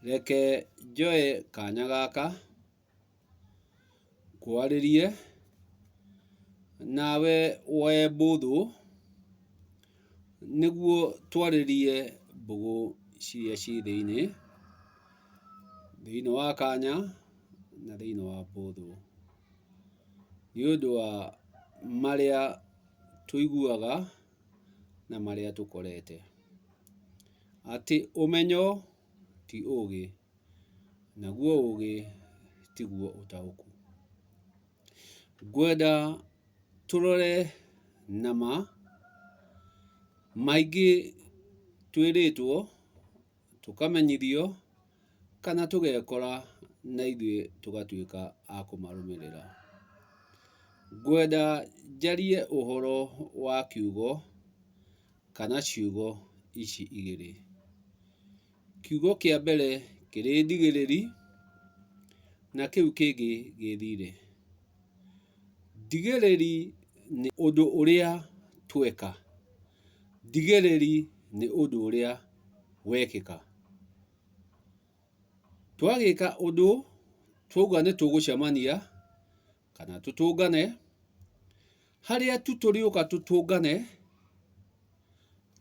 Reke njoe kanya gaka ngwarĩrie nawe we bũthũ, nĩguo twarĩrie mbũgũ ciria ciĩ thĩinĩ, thĩinĩ wa kanya na thĩinĩ wa bũthũ. Nĩ ũndũ wa marĩa tũiguaga. na marĩa tũkorete. Atĩ ũmenyo ti ũũgĩ, naguo ũũgĩ tiguo ũtaũku. Ngwenda tũrore na ma, maingĩ twĩrĩtwo. Tũkamenyithio kana tũgekora na ithuĩ tũgatuĩka a kũmarũmĩrĩra. Ngwenda njarie ũhoro wa kiugo kana ciugo ici igĩrĩ. Kiugo kĩa mbere kĩrĩ ndigĩrĩri na kĩu kĩngĩ gĩ thirĩ. Ndigĩrĩri nĩ ũndũ ũrĩa tweka. Ndigĩrĩri nĩ ũndũ ũrĩa wekĩka. Twagĩka ũndũ twauga nĩ tũgũcemania kana tũtũngane, harĩa tu tũrĩũka tũtũngane,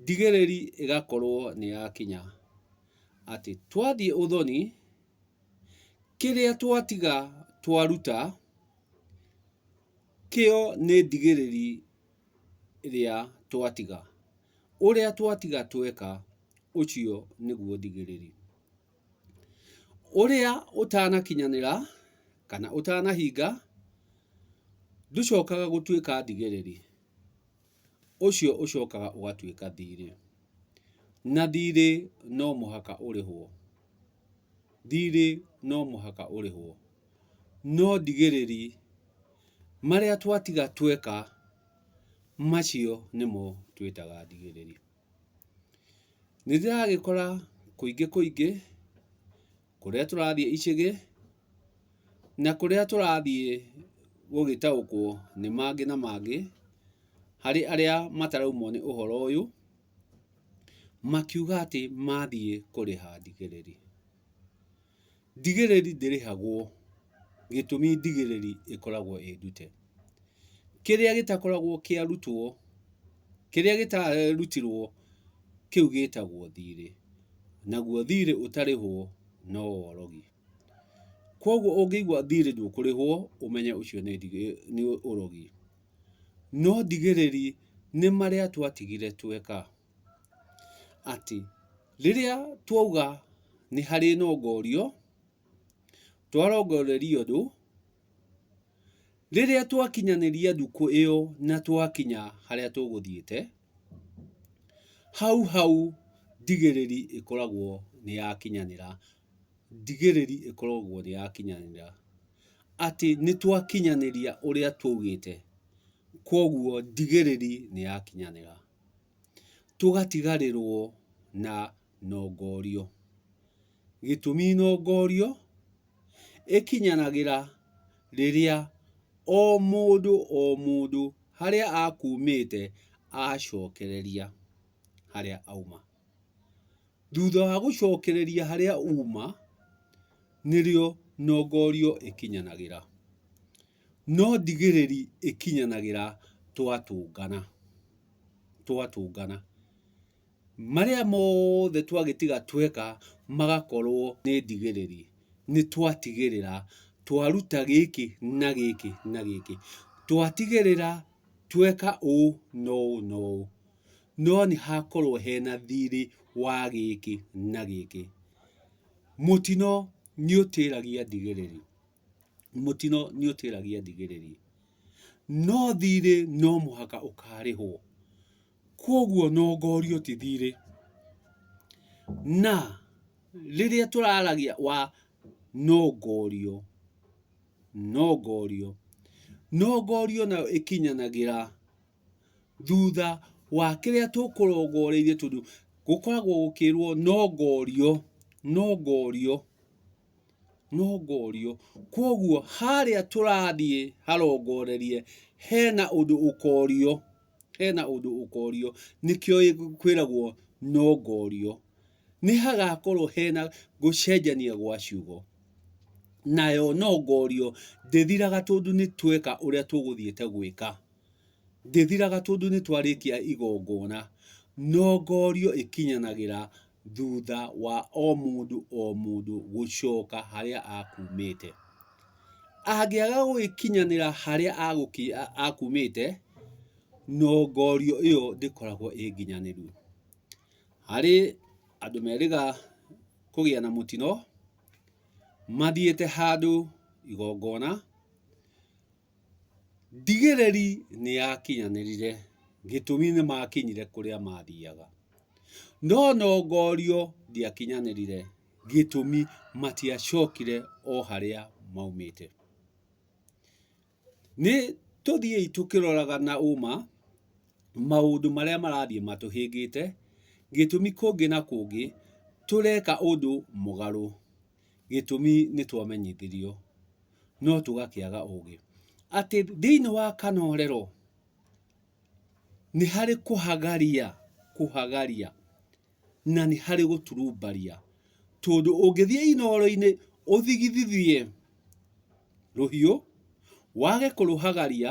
ndigĩrĩri ĩgakorwo nĩ yakinya. Atĩ twathiĩ ũthoni, kĩrĩa twatiga twaruta, kĩo nĩ ndigĩrĩri rĩa twatiga. Ũrĩa twatiga tweka, ũcio nĩguo thigĩrĩri. Ũrĩa ũtanakinyanĩra kana ũtanahinga, ndũcokaga gũtuĩka thigĩrĩri, ũcio ũcokaga ũgatuĩka thiirĩ. Na thiirĩ no mũhaka ũrĩhwo. Thiirĩ no mũhaka ũrĩhwo. no ndigĩrĩri marĩa twatiga tweka macio nĩmo twĩtaga ndigĩrĩri. Nĩ ndĩragĩkora kũingĩ kũingĩ kũrĩa tũrathiĩ icagi na kũrĩa tũrathiĩ gũgĩtaũkwo nĩ mangĩ na mangĩ harĩ arĩa mataraumwo nĩ ũhoro ũyũ, makiuga atĩ mathiĩ kũrĩha ndigĩrĩri. Ndigĩrĩri ndĩrĩhagwo gĩtũmi ndigĩrĩri ĩkoragwo ĩ ndute. Kĩrĩa gĩtakoragwo kĩarutwo, kĩrĩa gĩtarutirwo kĩu gĩtagwo thirĩ, naguo thirĩ ũtarĩhwo no worogi. Kwoguo ũngĩigua thirĩ ndũkũrĩhwo ũmenye ũcio nĩ nĩ ũrogi. No ndigĩrĩri nĩ marĩa twatigire tweka. atĩ rĩrĩa twauga nĩ harĩ na ũgorio, twarongoreria ũndũ, rĩrĩa twakinyanĩria ndukũ ĩyo na twakinya harĩa tũgũthiĩte, hau hau ndigĩrĩri ĩkoragwo nĩ yakinyanĩra. Ndigĩrĩri ĩkoragwo nĩ yakinyanĩra. Atĩ nĩ twakinyanĩria ũrĩa twaugĩte. Kũguo ndigĩrĩri nĩ yakinyanĩra. tũgatigarĩrwo na nongorio. Gĩtũmi nongorio ĩkinyanagĩra rĩrĩa o mũndũ o mũndũ harĩa akumĩte acokereria harĩa auma. Thutha wa gũcokereria harĩa uma, nĩrĩo nongorio ĩkinyanagĩra. No ndigĩrĩri ĩkinyanagĩra twatũngana, twatũngana. Marĩa mothe twagĩtiga tweka magakorwo nĩ ndigĩrĩri, nĩ twatigĩrĩra twaruta gĩkĩ na gĩkĩ na gĩkĩ. Twatigĩrĩra tweka ũũ na ũũ na ũũ, no nĩ hakorwo hena thirĩ wa gĩkĩ na gĩkĩ. Mũtino nĩ ũtĩragia ndigĩrĩri. mũtino nĩ ũtĩragia ndigĩrĩri, no thirĩ no mũhaka ũkarĩhwo, kwoguo no ngorio ti thirĩ. Na rĩrĩa tũraragia wa no ngorio, no ngorio, no ngorio nayo ĩkinyanagĩra thutha wa kĩrĩa tũkũrongoreirie tondũ gũkoragwo gũkĩrwo no ngorio, no ngorio. nongorio. Kwoguo harĩa tũrathiĩ harongorerie hena ũndũ ũkorio, hena ũndũ ũkorio, nĩkĩo kwĩragwo nongorio. Nĩ hagakorwo hena gũcenjania gwa ciugo. Nayo nongorio ndĩthiraga tondũ nĩ tweka ũrĩa tũgũthiĩte gwĩka. Ndĩthiraga tondũ nĩ twarĩkia igongona. Nongorio ĩkinyanagĩra thutha wa o mũndũ o mũndũ gũcoka harĩa akumĩte. Angĩaga gũgĩkinyanĩra harĩa akumĩte, no ngorio ĩyo ndĩkoragwo ĩ nginyanĩru. Harĩ andũ merĩga kũgĩa na mũtino mathiĩte handũ igongona. Ndigĩrĩri nĩ yakinyanĩrire, gĩtũmi nĩ maakinyire kũrĩa maathiaga. No Nongorio ndiakinyanĩrire, gĩtũmi matiacokire o harĩa maumĩte. Nĩ tũthiĩi tũkĩroraga na ũma maũndũ marĩa marathiĩ matũhĩngĩte, gĩtũmi kũngĩ na kũngĩ tũreka ũndũ mũgarũ. Gĩtũmi nĩ twamenyithirio, no tũgakĩaga ũũgĩ. Atĩ thĩinĩ wa kanorero nĩ harĩ kũhagaria, kũhagaria, na nĩ harĩ gũturumbaria. Tondũ ũngĩthiĩ inoro-inĩ ũthigithithie rũhiũ, wage kũrũhagaria,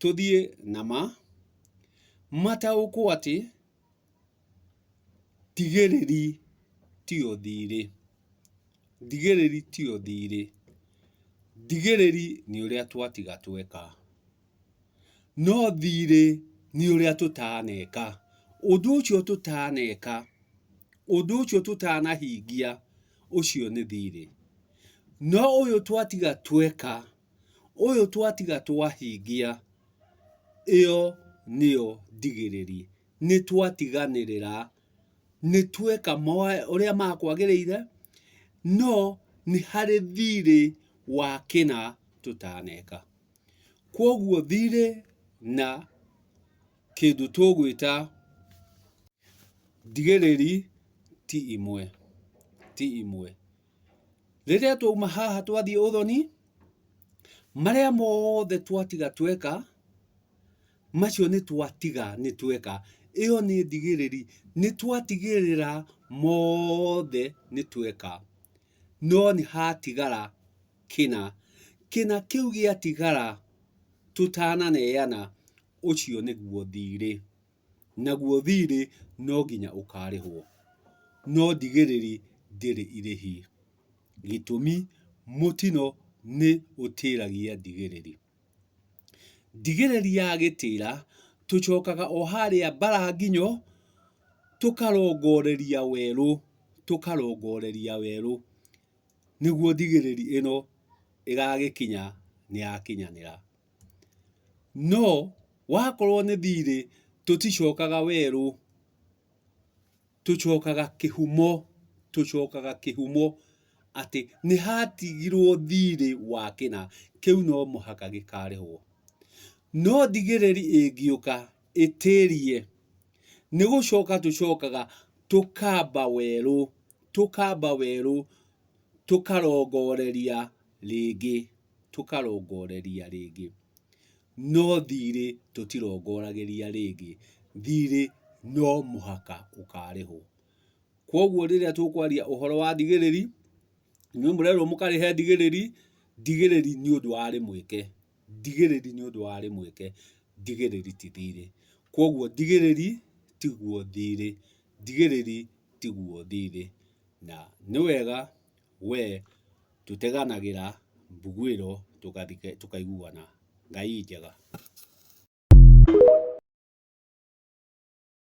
Tũthiĩ na ma. Mataũkwo atĩ tigĩrĩri tiyo thirĩ. Tigĩrĩri tiyo thirĩ. Tigĩrĩri nĩ ũrĩa twatiga tweka. No thirĩ nĩ ũrĩa tũtaneka. Ũndũ ũcio tũtaneka, ũndũ ũcio tũtanahingia, ũcio nĩ thirĩ. No ũyũ twatiga tweka. Ũyũ twatiga twahingia, ĩyo nĩyo ndigĩrĩri. Nĩ twatiganĩrĩra, nĩ tweka ũrĩa makwagĩrĩire, no nĩ harĩ thirĩ wa kĩna tũtaneka. Kwoguo thirĩ na kĩndũ tũgwĩta ndigĩrĩri ti imwe, ti imwe. Rĩrĩa twauma haha twathiĩ ũthoni, marĩa mothe twatiga tweka, macio nĩ twatiga nĩ tweka. Ĩyo nĩ ndigĩrĩri, nĩ twatigĩrĩra mothe nĩ tweka. No nĩ hatigara kĩna. Kĩna kĩu gĩatigara tũtananeana, ũcio nĩguo thirĩ. naguo thirĩ no nginya ũkarĩhwo, no ndigĩrĩri ndĩrĩ irĩhi, gĩtũmi mũtino nĩ ũtĩragia ndigĩrĩri. Ndigĩrĩri ya gĩtĩra tũcokaga o harĩa Mbaranginyo tũkarongoreria werũ, tũkarongoreria werũ nĩguo ndigĩrĩri ĩno ĩgagĩkinya nĩ yakinyanĩra. No wakorwo nĩ thiirĩ tũticokaga werũ, tũcokaga kĩhumo, tũcokaga kĩhumo atĩ nĩ hatigirwo thiirĩ wa kĩna, kĩu no mũhaka gĩkarĩhwo. No thigĩrĩri ĩngĩũka ĩtĩrie, nĩ gũcoka tũcokaga tũkamba werũ, tũkamba werũ tũkarongoreria rĩngĩ. tũkarongoreria rĩngĩ, no thirĩ tũtirongoragĩria rĩngĩ, thirĩ no mũhaka ũkarĩhwo. Kwoguo rĩrĩa tũkwaria ũhoro wa thigĩrĩri, inyuĩ mũrerwo mũkarĩhe thigĩrĩri, thigĩrĩri nĩ ũndũ warĩ mweke, thigĩrĩri nĩ ũndũ warĩ mweke, thigĩrĩri ti thirĩ. Kwoguo thigĩrĩri tiguo thirĩ, thigĩrĩri tiguo thirĩ, na nĩ wega we tũteganagĩra mbuguĩro tũkaiguana. Ngai njega.